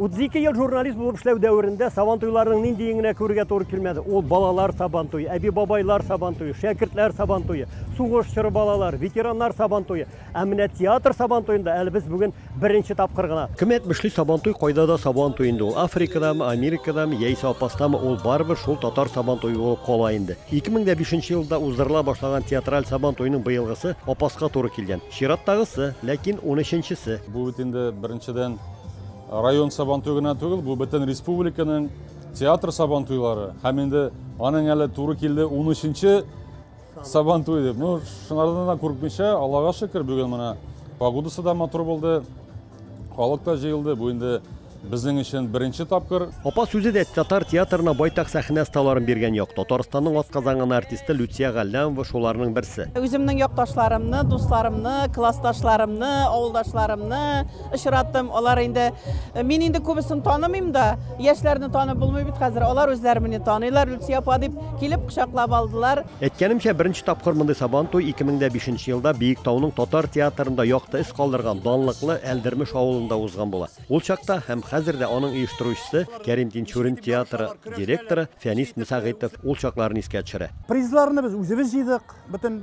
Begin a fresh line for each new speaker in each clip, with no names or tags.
32 ел журналист булып эшләү дәверендә сабантуйларның ниндиен генә күрергә туры килмәде. Ул балалар сабантуе, әби-бабайлар сабантуе, шәкертләр сабантуе, сугыш чоры балалар, ветераннар сабантуе. Ә менә театр сабантуенда әле без бүген беренче тапкыр гына. Кем әйтмешли, сабантуй кайда да сабантуй инде ул. Африкадамы, Америкадамы, яисә Апастамы, ул барыбер шул татар сабантуе булып кала инде. 2005 елда уздырыла башлаган театраль сабантуйның быелгысы Апаска туры килгән. Чираттагысы, ләкин 13 нчесе. Бу бит инде беренчедән Район сабантуе гына түгел, бу бөтен республиканың театр сабантуйлары. Һәм инде аның әле туры килде 13-нче сабантуй дип. Ну, шунардан да курыкмыйча, Аллага шөкер, бүген менә погодасы да матур булды. Халык та җыелды. Бу инде безнең өчен беренче тапкыр. Апа сүзе дә татар театрына байтак сәхнә сталарын биргән як. Татарстанның атказанган артисты Люция Галлямова шуларның берсе. Үземнең якташларымны, дусларымны, классташларымны, авылдашларымны, очраттым. Алар инде мин инде күбесен танымыйм да, яшьләрне танып булмый бит хәзер. Алар үзләре мине таныйлар, Люция апа дип килеп кочаклап алдылар. Әйткәнемчә, беренче тапкыр мондый Сабан туй 2005 елда Биектауның татар театрында якты эз калдырган данлыклы Әлдермеш авылында узган була. Ул чакта һәм хәзер дә аның оештыручысы Кәрим Тинчурин театры директоры Фәнис Мсәгыйтов ул чакларны искә төшерә. Призларны без үзебез җыйдык, бөтен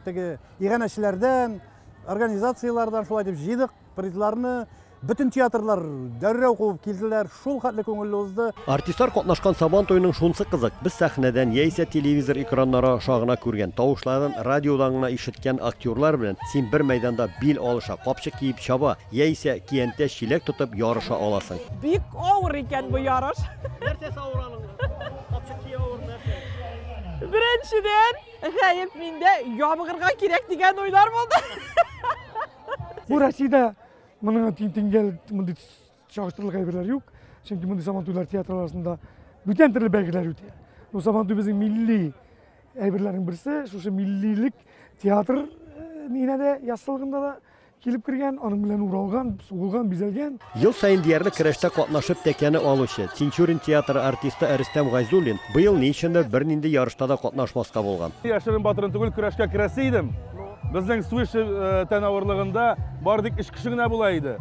теге иганәчеләрдән, организацияләрдән шулай дип җыйдык призларны бөтен театрлар дәррәү куып килделәр шул хәтле күңелле узды артистлар катнашкан сабан туеның шунсы кызык без сәхнәдән яисә телевизор экраннары аша гына күргән тавышларын радиодан гына ишеткән актерлар белән син бер мәйданда бил алыша капчык киеп чаба яисә киянтә чиләк тотып ярыша аласың бик авыр икән бу ярыш нәрсәсе авыр аның капчык кию авыр нәрсә беренчедән Гаеп миндә ябыгырга кирәк дигән уйлар булды. Бу Россиядә моның тиңгәл мондый чагыштырырлык әйберләр юк. Чөнки мондый сабантуйлар театр арасында бүтән төрле бәйгеләр үтә. Бу сабантуй безнең милли әйберләрнең берсе, шушы миллилек театр э, нигенә дә, яссылыгында да Килеп кергән, аның белән уралган, сугылган, бизәлгән. Ел саен диярлек көрәштә катнашып тәкәне алучы, Тинчурин театры артисты Рөстәм Гайзуллин быел ни өчендер бернинди ярышта да катнашмаска булган. Яшерен-батырын түгел, көрәшкә керәсе идем. Безнең Суиши тән авырлыгында бары тик өч кеше генә була иде.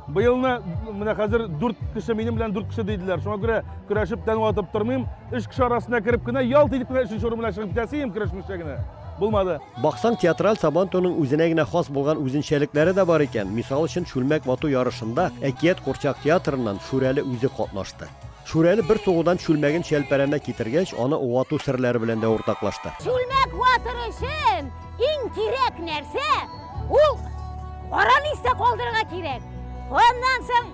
Быелны менә хәзер дүрт кеше минем белән дүрт кеше диделәр. Шуңа күрә көрәшеп тән ватып тормыйм. Өч кеше арасына кереп кенә, ялт итеп кенә өченче урын белән чыгып китәсе идем, көрәшмичә генә. Булмады. Баксаң, театраль Сабантуйның үзенә генә хас булган үзенчәлекләре дә бар икән. Мисал өчен, чүлмәк вату ярышында Әкият курчак театрыннан Шүрәле үзе катнашты. Шүрәле бер сугудан чүлмәген Чәлпәрәмә китергәч, аны вату серләре белән дә уртаклашты. Чүлмәк ватыр өчен иң кирәк нәрсә, ул араны истә калдырырга кирәк. Аннан соң,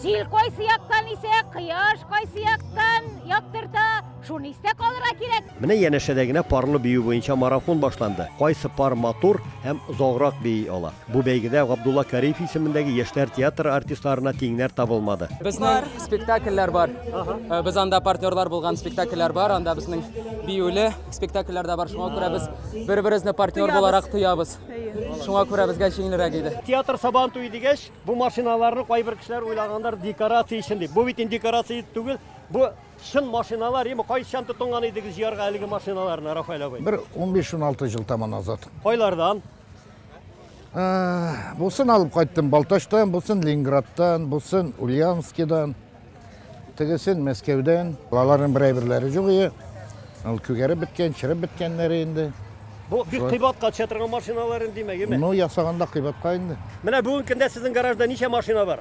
җил кайсы яктан исә, кояш кайсы яктан яктырта. Шуны истә калырга кирәк. Менә янәшәдә генә парлы бию буенча марафон башланды. Кайсы пар матур һәм озаграк бии ала? Бу бәйгедә Габдулла Кариев исемендәге яшьләр театры артистларына тиңнәр табылмады. Безнең спектакльләр бар. Э, без анда партнерлар булган спектакльләр бар. Анда безнең биюле спектакльләр дә бар. Шуңа күрә без бер-беребезне партнер буларак тоябыз. Шуңа күрә безгә җиңелрәк иде. Театр сабан туе дигәч, бу машиналарны кайбер кешеләр уйлагандар декорация өчен дип. Бу бит инде декорация түгел, бу Чын машиналар ими, кайчан тотынган идегез җыярга әлеге машиналарны, Рафаэль абый? Бер 15-16 ел таман азат. Кайлардан? Ә, Бусын алып кайттым Балтачтан, бусын Ленинградтан, бусын Ульяновскидан, тегесен Мәскәүдән. Аларның бер әйберләре юк ие. Ул күгәреп беткән, чырып беткәннәре инде. Бу бик кыйбатка төшә торган машиналар инде, димәк, име? Ну, ясаганда кыйбатка инде. Менә бүгенге көндә сезнең гаражда ничә машина бар?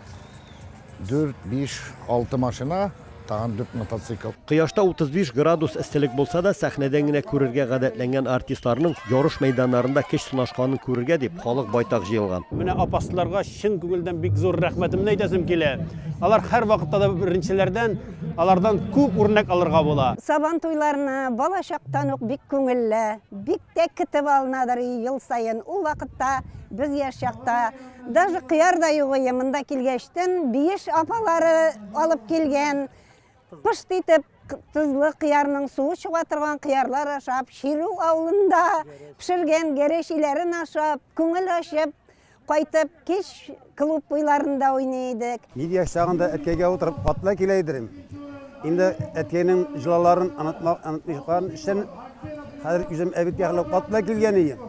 Дүрт, биш, алты машина, тагын дүрт мотоцикл. Кояшта 35 градус эсселек булса да, сәхнәдән генә күрергә гадәтләнгән артистларның ярыш мәйданнарында көч сынашканын күрергә дип, халык байтак җыелган. Менә апасларга чын күңелдән бик зур рәхмәтемне әйтәсем килә. Алар һәрвакытта да беренчеләрдән, алардан күп үрнәк алырга була. Сабан туйларына балачактан ук бик күңелле, бик тә китеп алынадыр ел саен. Ул вакытта без яшь чакта Даже кыяр да юк иде монда килгәчтен, биеш апалары алып килгән. Пышт итеп тозлы кыярның суы чыга торган кыярлар ашап, Ширү авылында пешергән гәрешиләрен ашап, күңел ачып, кайтып кич клуб буйларында уйный идек. Мин яшь чагында әткәйгә утырып атлай килә идем. Инде әткәйнең җылаларын онытмакларын өчен хәзер үзем әбит яхлы атлай килгән идем.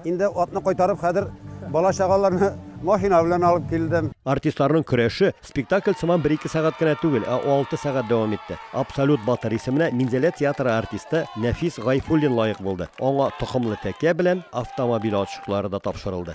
Инде атны кайтарып, хәзер бала-чагаларны машина белән алып килдем. Артистларның көрәше спектакль сыман бер-ике сәгать кенә түгел, ә алты сәгать дәвам итте. Абсолют батыр исеменә Минзәлә театры артисты Нәфис Гайфуллин лаек булды. Аңа токымлы тәкә белән автомобиль ачкычлары да тапшырылды.